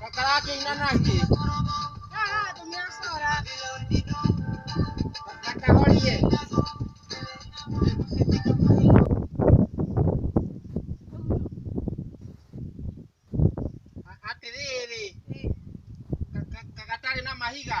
Makarakĩina nake. Makahorie. Atĩrĩrĩ, gatarĩ na mahiga.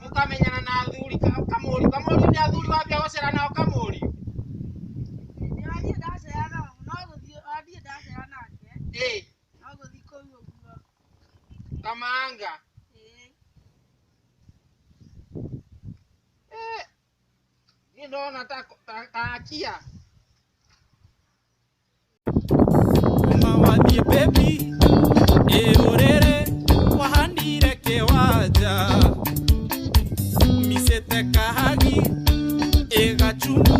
mũkamenyana na athuri ka- kamũri kamũri nĩ athuri wake gũcera nao kamũri Ndathiĩ ndacera nao, no gũthiĩ, ndathiĩ ndacera nake, ĩ no gũthiĩ kũu ũguo. kamanga Ĩĩ. Eh, niĩ ndona ta ta- ta akia Mama wathiĩ baby ĩũrĩrĩ wahanire kĩwanja micĩte kahagi ĩgachumu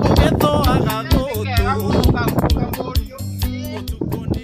ũgĩthũaga gũtũ ũtukũ nĩ